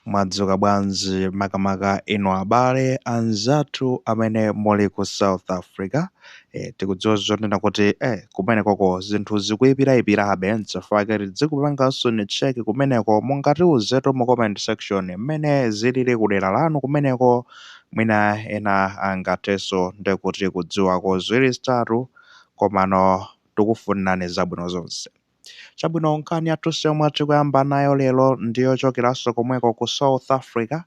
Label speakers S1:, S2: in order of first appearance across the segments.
S1: Mwadzuka bwanji makamaka inu abale anzathu amene muli ku South Africa? Eh, tikudziwa zonena kuti eh, kumenekoko zinthu zikuipiraipirabe nchifukwa chake tizikupanganso ni check kumeneko mungatiuzetu mu comment section mmene zilili kudera lanu kumeneko mwina ena angathenso ndi kuti kudziwako ziwiri zitatu komano tikufunirani zabwino zonse. Chabwino, nkhani yathu yomwe tikuyamba nayo lero ndi yochokeranso komweko ku South Africa.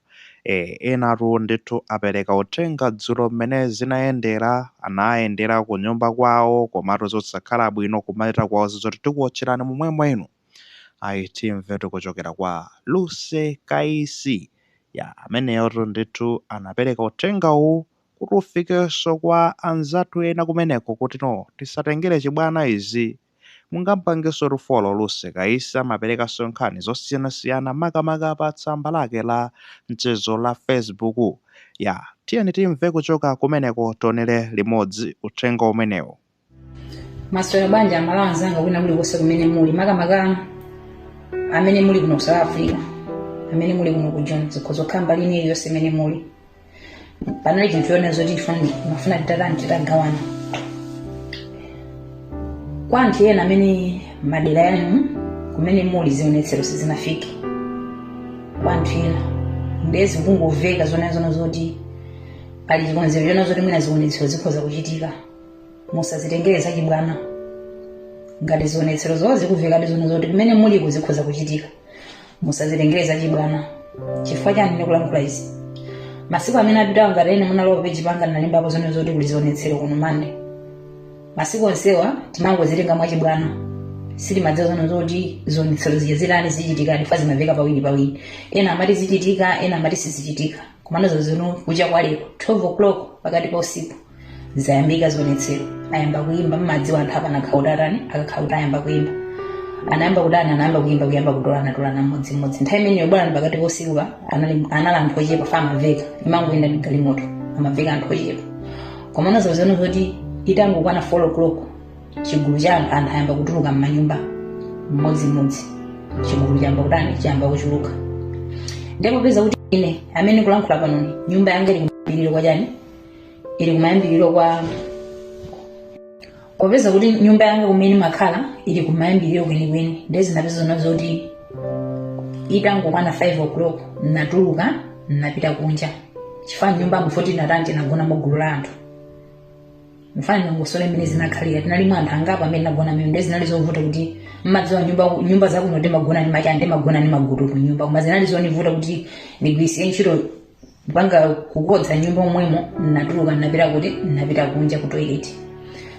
S1: E, enatu ndithu apereka uthenga dzulo mmene zinayendera, anayendera ku nyumba kwawo komatu zosakhala bwino kumachita kuwauza zoti tikuwotcherani momwemo inu. Ayi, timvetu kuchokera kwa Lucy Kaisi. Ya, ameneyotu ndithu anapereka uthenga uwu kuti ufikenso kwa anzathu ena kumeneko kuti no, tisatengere chibwana izi. Mungampangenso follow Lucy Kaisi amaperekanso nkhani zosiyanasiyana makamaka pa tsamba lake la mchezo la Facebook. Ya, tiyeni timve kuchoka kumeneko tionere limodzi uthenga
S2: umenewu. Maswera bwanji amalawi anzanga kwina kulikonse kumene muli makamaka amene muli kuno ku south africa amene muli kuno ku Joni zikhoza kukhala mbali ina iliyonse imene muli panali chinthu chonena zoti ndimafuna titatani titagawana kwa anthu ena amene madera yanu kumene muli zionetsero sizinafike kwa anthu ena ndiye zikungoveka zonena zoti pali chikonzero chonena zoti mwina zionetsero zikhoza kuchitika musazitengere zachibwana ngati zionetserozo zikuvekadi zonena zoti kumene muliko zikhoza kuchitika musazitengere zachibwana chifukwa chani ndikulankhula izi masiku amene apitawo ngati ena munalowa peji panga ndinalembapo zonena zoti kuli zionetsero kuno mande masiku onsewa timangozitenga mwachibwana sitimadziwa zonena zoti zionetsero zija zitani zichitika chifukwa zimaveka pawiri pawiri ena amati zichitika ena amati sizichitika komano zinthu kucha kwa lero 12 o'clock pakati pa usiku zayambika zionetsero ayamba kuyimba mmadziwa anthu apana khautatani akakhauta ayamba kuyimba anayamba kudana anayamba kuyimba kuyamba kutolana tolana mmodzi mmodzi nthawi imeneyo bwana ndi pakati pa usiku anali anali anthu ochepa chifukwa amaveka imangoyenda ndi galimoto amaveka anthu ochepa komano zonena zoti itangokwana 4 o'clock chigulu cha anthu anthu ayamba kutuluka mmanyumba mmodzi mmodzi chigulu chayamba kudani chayamba kuchuluka ndipo peza kuti ine amene ndikulankhula panoyi nyumba yanga ili kumapeto kwa chani ili kumayambiriro kwa popeza kuti nyumba yanga kumene makhala ili kumayambiriro kwenikweni ndiye zinapeza zona zoti itangokwana 5 o'clock natuluka napita kunja chifukwa nyumbamo tinatani tinagona mgulu la anthu mfana ndongosolo mmene zinakhalira tinali mwa anthu angapo amene nagona mmene ndiye zinali zovuta kuti mmadziwa nyumba nyumba zakuno ndimagona ndi machande magona ndi magutu ku nyumba koma zinali zonivuta kuti ndigwirisire ntchito kupanga kukodza nyumba momwemo natuluka napita kuti napita kunja ku toilet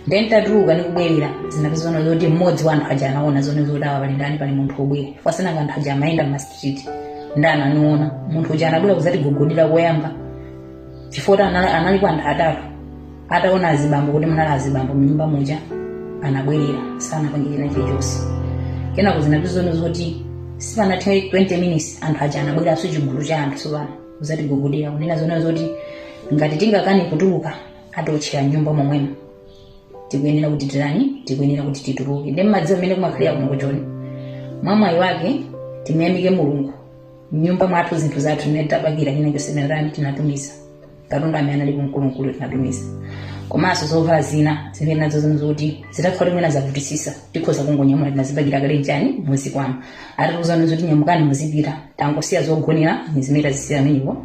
S2: then ntatuluka nikubwerera zinapezana zoti mmodzi wa anthu aja anaona zona zoti awa pali ndani pali munthu obwera fa sinanga anthu aja amayenda mma street nde ananiona munthu uja anabwera kuzatigogodera koyamba chifukwa analiko anthu atatu ataona azibambo kuti munali azibambo mnyumba muja anabwerera sanapange china chilichonse kenako zinapezana zoti sipanathe 20 minutes anthu aja anabweranso chigulu cha anthu sopano kuzatigogodera kunena zona zoti ngati tingakane kutuluka atiotchera nyumba momwemo tikuyenera kuti titani tikuyenera kuti tituluke nde mmadziwa mmene kumakhalira kuno ku Joni mwamwayi wake timuyamike mulungu mnyumba mwathu zinthu zathu tinatapakira china chonse tinatani tinatumiza katundu amene anali kumkulumkulu tinatumiza komanso zovala zina zimene nazo zimene zoti zitakhala mwina zavutisisa tikhoza kungonyamula tinazipakira kale ujeni muzikwama atatiuzani zoti nyamukani muzipita tangosiya zogonera ni zimene tazisiya amenepo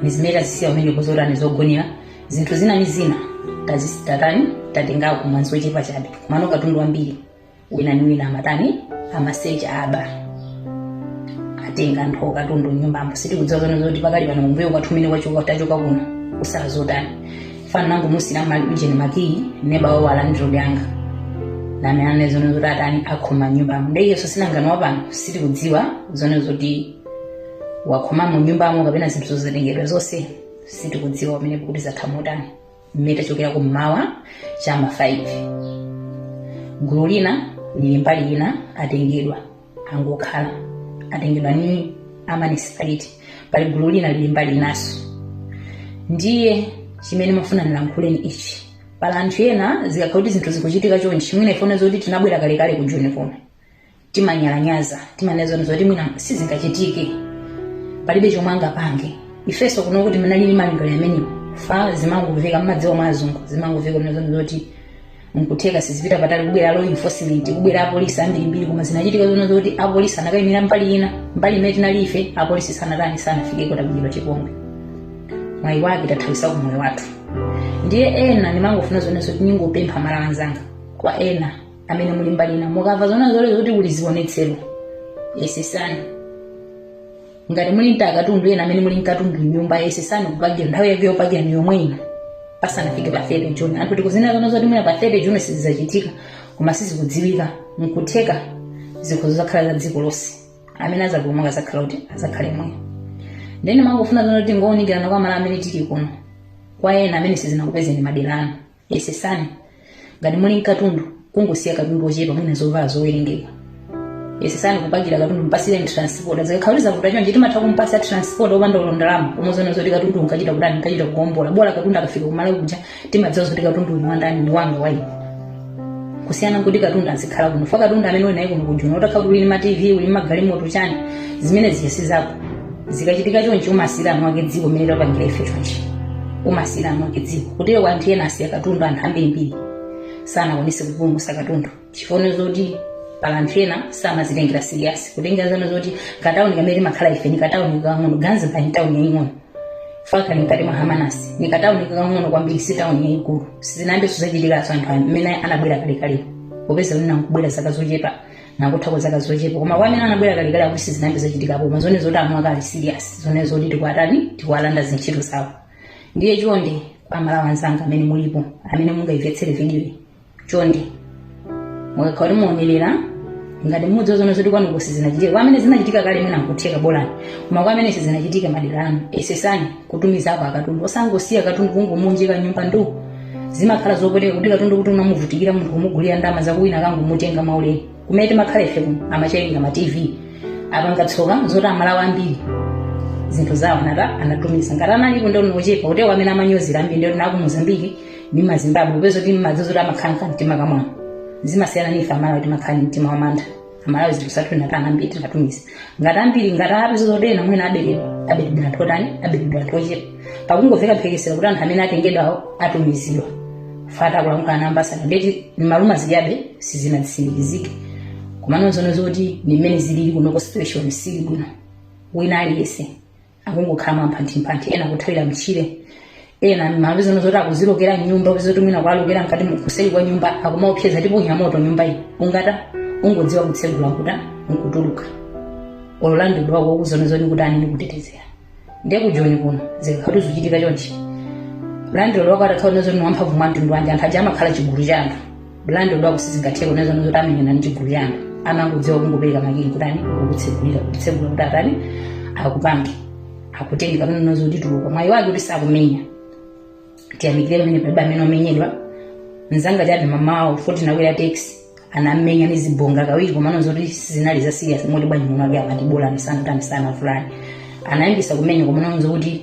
S2: ni zimene tazisiya amenepo zotani zogonera zinthu zina ni zina tazitatani tatengako mwina zochepa chabe komano katundu wambiri wina ni wina amatani amasecha aba atenga anthu katundu nyumbamo sitikudziwa zona zoti pakali pano kumbuyo kwathu mmene wachoka tachoka kuno kusala zotani fana nangu musina mali ujeni makiyi neba wawo alandilodi anga amanena zona zoti atani akhoma nyumbamo nde iyeso sinangano wapano sitikudziwa zona zoti wakhomamo nyumbamo kapena zinthu zozitengedwa zonse sitikudziwa pamenepo kuti zatha motani mmene tachokera kummawa cha ma 5 gulu lina lili mbali ina atengedwa angokhala atengedwa ni a municipality pali gulu lina lili mbali inaso ndiye chimene mafuna ndilankhule ni ichi pali anthu ena zikakhala kuti zinthu zikuchitika chonchi mwina ifuna zoti tinabwera kalekale ku Joni kuno timanyalanyaza timanena zona zoti mwina sizingachitike palibe chomwe angapange ifeso kunoko tinali ndi malingaliro amenewo fa zimangomveka mmadziwa mwa azungu zimangomveka kunena zona zoti nkutheka sizipita patali kubwera law enforcement kubwera apolisi ambirimbiri koma zinachitika zona zoti apolisi anakayimira mbali ina mbali imene tinali ife apolisi sanatani sanafikeko tabwino chipongwe mwayi wake tathawisako moyo wathu ndiye ena ndimangofuna zona zoti ningopempha Amalawi anzanga kwa ena amene muli mbali ina mukamva zona zole zoti kuli zionetsero yesesani ngati muli nta akatundu ena amene muli nkatundu nyumba yesesani kupakira nthawi yake yopakira ni yomwe ino pasanafike pa 30 juni anthu tikuziwa zona zoti mwina pa 30 juni sizizachitika koma sizikudziwika nkutheka zikhoza zakhala za dziko lonse amene azapulumuka azakhala kuti azakhale moyo ndene mangofuna zona kuti ngowunikirana kwa amalawi amene tili kuno kwa ena amene sizinakupezeni madera anu yesesani ngati muli mkatundu kungosiya katundu ochepa mwina zovala zowerengeka yesesani kupakira katundu mpasireni transport zikakhala kuti zavuta chonchi timatha kumpasa transport opanda olo ndalama omwe zoona zoti katundu ukachita kutani ukachita kuombola bola katundu akafika kumalawi kuja timadziwa zoti katundu uyu wandani ndi wanga wayi kusiyana nkuti katundu azikhala kuno fa katundu amene uli naye kuno kujoni utakhala uli ma tv uli magalimoto chani zimene zija si zako zikachitika chonchi umasiyira anuwake dziko mmene tapangira ife chonchi umasiyira anuwake dziko kutero kwa anthu ena asiya katundu anthu ambirimbiri sanakwanise kupulumutsa katundu chifukwa zoti pali anthu ena samazitengera siriyasi kutengera zano zoti katauni kamene timakhala ife ni katauni kakang'ono gansbaai ni tauni yaying'ono faka ni mkati mwa hermanus ni katauni kakang'ono kwambiri si tauni yayikulu sizinayambenso zachitikazo anthu amene anabwera kalekalepo popeza kuti nakubwera zaka zochepa nangothako zaka zochepa koma kwa amene anabwera kalekale akuti sizinayambe zachitikapo koma zone zoti amuna kali serious zone zoti tikwatani tikwalanda zintchito zawo ndiye chonde kwa amalawi anzanga amene mulipo amene mungayimvetsere vidiyoyi chonde mukakhala kuti muonerera ngati mudziwa zone zoti kwanuko sizinachitika kwa amene zinachitika kale mwina nkutheka bolani koma kwa amene sizinachitika madera anu yesesani kutumizapo akatundu osangosiya katundu kungomuunjika mnyumba ndu zimakhala zopweteka kuti katundu kuti unamuvutikira munthu kumugulira ndalama zako wina kungomutenga maulere kumene timakhala ife kuno amachayikira ma tv apanga tsoka zoti amalawi ambiri zinthu zawo anatani anatumiza ngati analipo ndi ochepa kutewa amene amanyozera ambiri ndi naku mozambiki ndi mazimbabwe popeza kuti mmadziwa zoti amakhala nkamtima kamwano zimasiyana ndi ife amalawi timakhala ndi mtima wamantha malawi zinthu zathu tinatani ambiri tinatumiza ngati ambiri ngati apeza zoti ena mwina aberedwa aberedwa anthu otani aberedwa anthu ochepa pakungomveka mphekesera kuti anthu amene atengedwawo atumizidwa fata kulankhula namba asanu ndeti ni maluma zijabe sizinatsimikizike komano zono zoti ndi mmene zilili kuno ku situation sili bwino wina aliyense akungokhala mwamphanthimpanthi ena kuthawira mtchire ena mmawa zino zoti akuzilokera mnyumba kuzoti mwina kwalokera mkati kuseri kwa nyumba akumaopseza tiponya moto nyumba iyi ungata ungodziwa kutsegula kutani nkutuluka olo landlord wako ukuzona zoni kuti anini kutetezera ndiye kujoni kuno zikakhala zuchitika chonchi landlord wako atakhala zoni wamphamvu mwa mtundu wanji anthu aja amakhala chigulu cha anthu landlord wako sizingatheka kunena zoti amenyana ndi chigulu cha anthu amangodziwa kungopereka makiyi kutani kukutsegulira kutsegula kuti atani akupange akutenge kapena kunena zoti tuluka mwayi wake kuti sakumenya tiyamikire pamene palibe amene wamenyedwa mzanga chati mamawa futi nakwera taxi anamenya ni zibonga kawiri komano zoti zinali za serious moti bwanji muno ake amati bola misana kuti amisana fulani anayambisa kumenya komano zokuti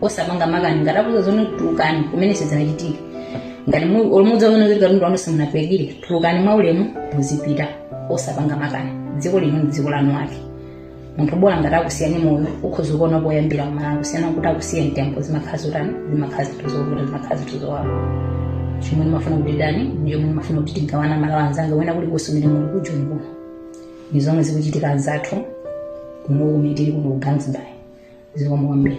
S2: osapanga makani ngati akuuza zone tulukani kumene sizinachitike ngati mu- olo mudzaona kuti katundu wanu simunapakire tulukani mwa ulemu muzipita osapanga makani dziko lino ndi dziko lanu ake munthu bola ngati akusiyani moyo ukhoza kuona poyambira kumalawi kusiyana kuti akusiya mtembo zimakhala zotani zimakhala zinthu zovuta zimakhala zinthu zowawa chomwe ndimafuna kuti tani ndi chomwe ndimafuna kuti tigawane amalawi anzanga kwina kulikonse kumene muli kujoni kuno ndi zomwe zikuchitika anzathu kuno kumene tili kuno ku Gansbaai zikomo kwambiri